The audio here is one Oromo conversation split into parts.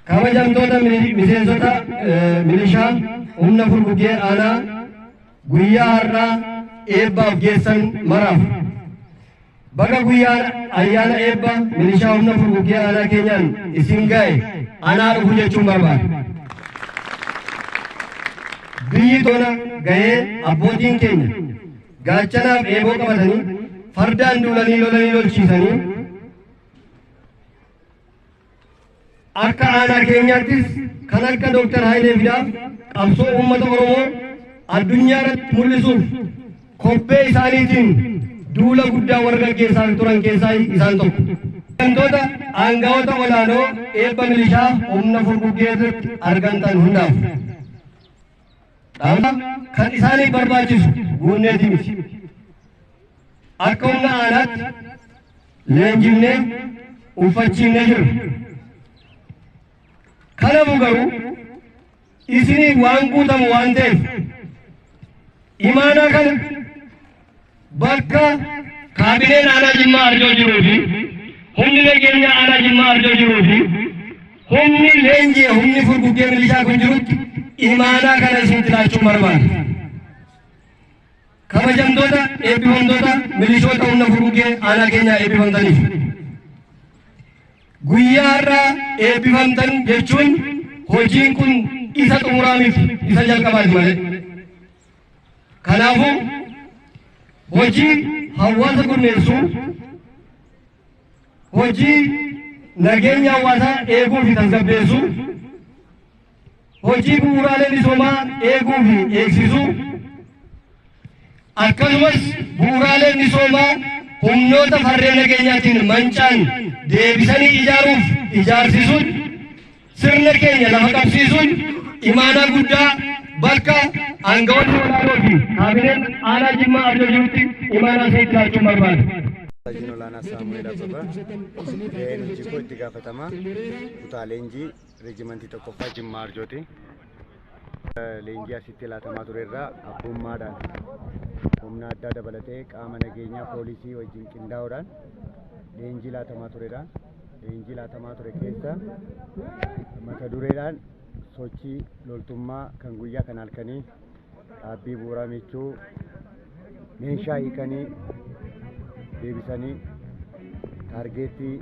Kabajamtoota miseensota milishaa humna furguggee aanaa guyyaa har'aa eebbaaf geessan maraaf baga guyyaan ayyaana eebba milishaa humna furguggee aanaa keenyaan isin ga'e anaa dhufu jechuun barbaada. Biyyi tona ga'ee abbootiin keenya gaachanaaf eeboo qabatanii fardaan duulanii lolanii lolchiisanii Akka aanaa keenyaattis kan akka Dooktar Hayilee Fidaa qabsoo uummata Oromoo addunyaa irratti mul'isuuf kobbee isaaniitiin duula guddaa warra gaggeessaa turan keessaa isaan tokko. Gantoota aangawoota olaanoo eebba milishaa humna furguggee irratti argamtan hundaaf. Dhaabni kan isaaniif barbaachisu guunneeti miti. Akka humna aanaatti leenjifnee uffachiifnee jirra. Kanafu garuu isiniif waan guutamu waan ta'eef imaanaa kana Bakka kaabineen aanaa Jimmaa Arjoo jiruu fi humni nageenyaa aanaa Jimmaa Arjoo jiruu fi humni leenjii humni furguggee milishaa kun jirutti imaanaa kana isinitti laachuun barbaada. Kabajamtoota eebbifamtoota milishoota humna furguggee aanaa keenyaa eebbifamtaniif. Guyyaa har'aa eebbifamtan jechuun hojiin kun isa xumuraamiif isa jalqabaati malee. Kanaafuu hojii hawaasa gurmeessuu, hojii nageenya hawaasaa eeguu fi tasgabbeessuu, hojii bu'uuraalee misoomaa eeguu fi eegsisuu, akkasumas bu'uuraalee misoomaa humnoota farreen nageenyaatiin mancaan deebisanii ijaaruuf ijaarsisuun Sirna keenya lafa qabsiisuun imaanaa guddaa bakka aangawoonni olaanoo fi kaabineen aanaa Jimmaa Arjoo jirutti imaanaa isinitti laachuun barbaada. Hojiin olaanaa Saamu'eel Abbabaa gaheen hojii koo itti gaafatamaa kutaa leenjii reejimantii tokkoffaa Jimmaa Arjooti. Leenjii asitti laatamaa ture irraa abbummaadhaan humna addaa dabalatee qaama nageenyaa poolisii wajjin qindaa'uudhaan leenjii laatamaa turedha. leenjii laatamaa ture keessa mata dureedhaan sochii loltummaa kan guyyaa kan halkanii dhaabbii bu'uuraa michuu meeshaa hiikanii deebisanii taargeettii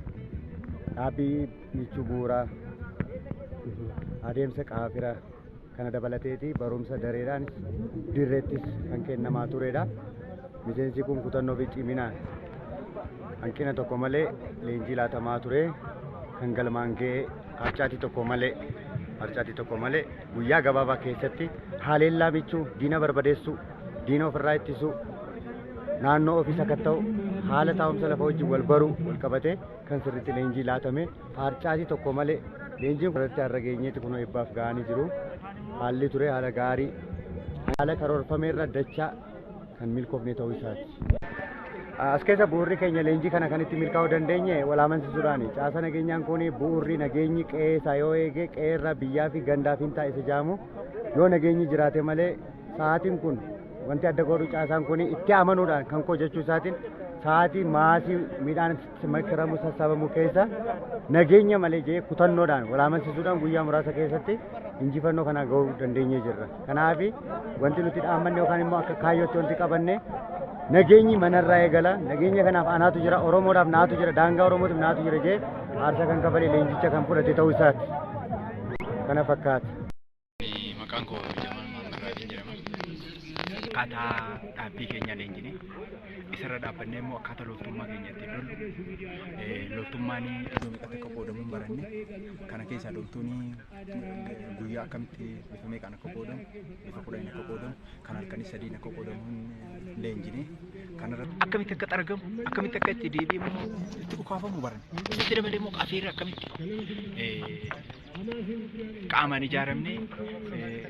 dhaabbii michuu bu'uuraa adeemsa qaafira Kana dabalateeti barumsa dareedhaanis dirreettis kan kennamaa turedha. Miseensi kun kutannoo fi ciminaan hanqina tokko malee leenjii laatamaa ture kan galmaan ga'e harcaatii tokko malee harcaatii tokko malee guyyaa gabaabaa keessatti haleellaa michuu diina barbadeessuu diina ofirraa ittisuu naannoo ofii sakatta'u haala taa'umsa lafa wajjin wal baruu wal qabatee kan sirriitti leenjii laatame Haarcaatii tokko malee leenjiin irratti har'a geenyeetti kunoo eebbaaf ga'anii jiru. Haalli ture haala gaarii haala karoorfame irra dachaa kan milkoofne ta'uu isaati. As keessa bu'uurri keenya leenjii kana kan itti milkaa'uu dandeenye wal amansiisuudhaani. Caasa nageenyaan kun bu'uurri nageenyi qe'ee isaa yoo eege qe'ee irraa biyyaa fi gandaa fi hin taa'isa jaamu yoo nageenyi jiraate malee sa'aatiin kun wanti adda godhu caasaan kun itti amanuudhaan kan koo jechuu isaatiin sa'aatii maasii midhaan Makaramu sassaabamu keessa nageenya malee jee kutannoodhaan walaamansiisuudhaan guyyaa muraasa keessatti injifannoo kana ga'uu dandeenyee jirra. Kanaaf wanti nuti dhaammanne yookaan immoo akka kaayyootti wanti qabanne nageenyi manarraa eegala nageenya kanaaf anaatu jira oromoodhaaf naatu jira daangaa oromootiif naatu jira jee aarsaa kan kafalee leenjicha kan fudhate ta'uu isaati kana fakkaata. Maqaan koo Jamal Maammed Raadiin jedhama. Akkaataa dhaabbii keenya leenjine isarra dhaabbannee immoo akkaataa loltummaa keenya ittiin lollu eh, loltummaan iddoo meeqatti akka qoodamu hin baranne kana keessaa loltuun guyyaa akkamitti bifa meeqaan akka qoodamu bifa kudhaniin akka qoodamu kan halkanii sadiin akka qoodamu hin leenjine kanarra akkamitti akka xaragamu akkamitti akka itti deebi'amu itti dhukaafamu baranne isatti dabalee immoo qafiirra akkamitti eh, qaamaan ijaaramne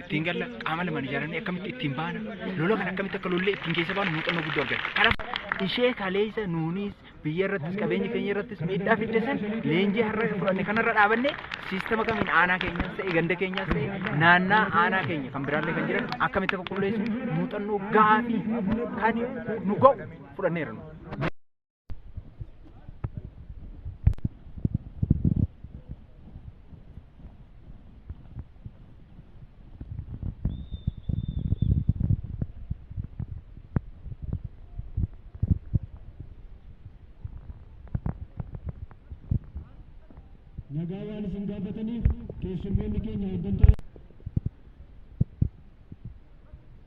ittiin galla qaama lamaan ijaaramne akkamitti ittiin baana lola kan akkamitti akka lollee ittiin keessa baanu muuxannoo guddoo argate kanaaf ishee kaleessa nuunis biyya irrattis qabeenya keenya irrattis miidhaa fidde san leenjii har'a fudhanne kanarra dhaabanne siistama kamiin aanaa keenyaas ta'e ganda keenyaas ta'e naannaa aanaa keenya kan biraallee kan jiran akkamitti akka qulleessu muuxannoo gaarii kan nu ga'u fudhanneera nu. nagaa waan isin gaafataniif keessummoonni keenya hooggantoota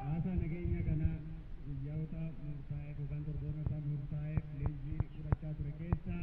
Haasaa nageenya kana guyyoota murtaa'eef yookaan torboonota murtaa'eef liizii fudhachaa ture keessaa